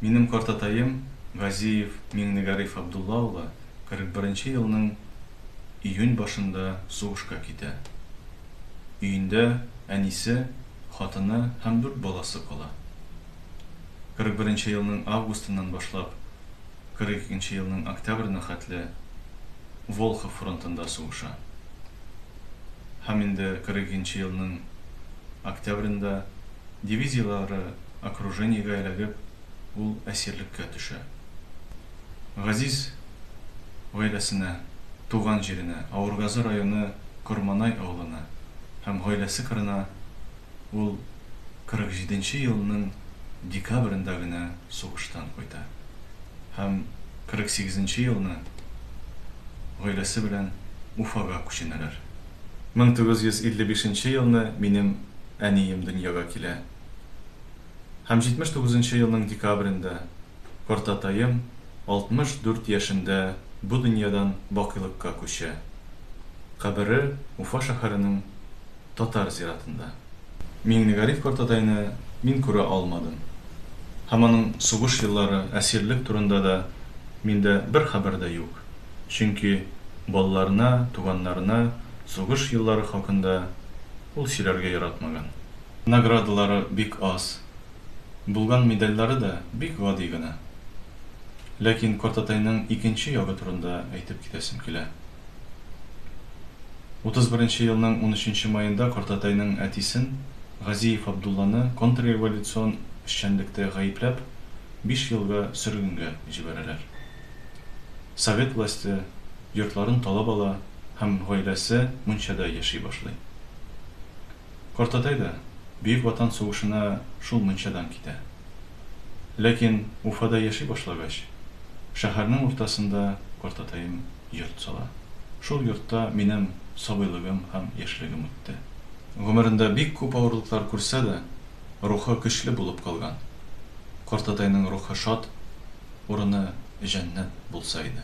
Минем картатаем Газиев Миңнегариф Абдулла улы 41 нче елның июнь башында сугышка китә. Өендә әнисе, хатыны һәм дүрт баласы кала. 41 нче елның августыннан башлап 42 нче елның октябрена хәтле Волхов фронтында сугыша. Һәм инде 42 нче елның октябренда, дивизияләре окружениегә эләгеп, ул әсирлеккә төшә. Газиз гаиләсенә, туган җиренә, Авыргазы районы Корманай авылына һәм гаиләсе кырына ул 47 нче елның декабрендә генә сугыштан кайта һәм 48 нче елны гаиләсе белән Уфага күченәләр. Мең тугыз йөз илле бишенче елны минем әнием дөньяга килә. Һәм җитмеш тугызынчы елның декабрендә картатаем алтмыш дүрт яшендә бу дөньядан бакыйлыкка күчә. Кабере Уфа шәһәренең татар зиратында. Миңнегариф картатайны мин күрә алмадым. Һәм аның сугыш еллары, әсирлек турында да миндә бер хәбәр дә юк. чөнки балаларына, туганнарына сугыш еллары хакында ул сөйләргә яратмаган. Наградалары бик аз, булган медальләре дә бик гади генә. Ләкин картатайның икенче ягы турында әйтеп китәсем килә. Утыз беренче елның унөченче маенда картатайның әтисен, Газиев Абдулланы контрреволюцион эшчәнлектә гаепләп, биш елга сөргенгә җибәрәләр. Совет власте йортларын талап ала һәм гаиләсе мунчада яши башлый. Картатай да Бөек Ватан сугышына шул мунчадан китә. Ләкин Уфада яши башлагач, шәһәрнең уртасында картатаем йорт сала. Шул йортта минем сабыйлыгым һәм яшьлегем үтте. Гомерендә бик күп авырлыклар күрсә дә, рухы көчле булып калган. Картатайның рухы шат, урыны җәннәт булса иде.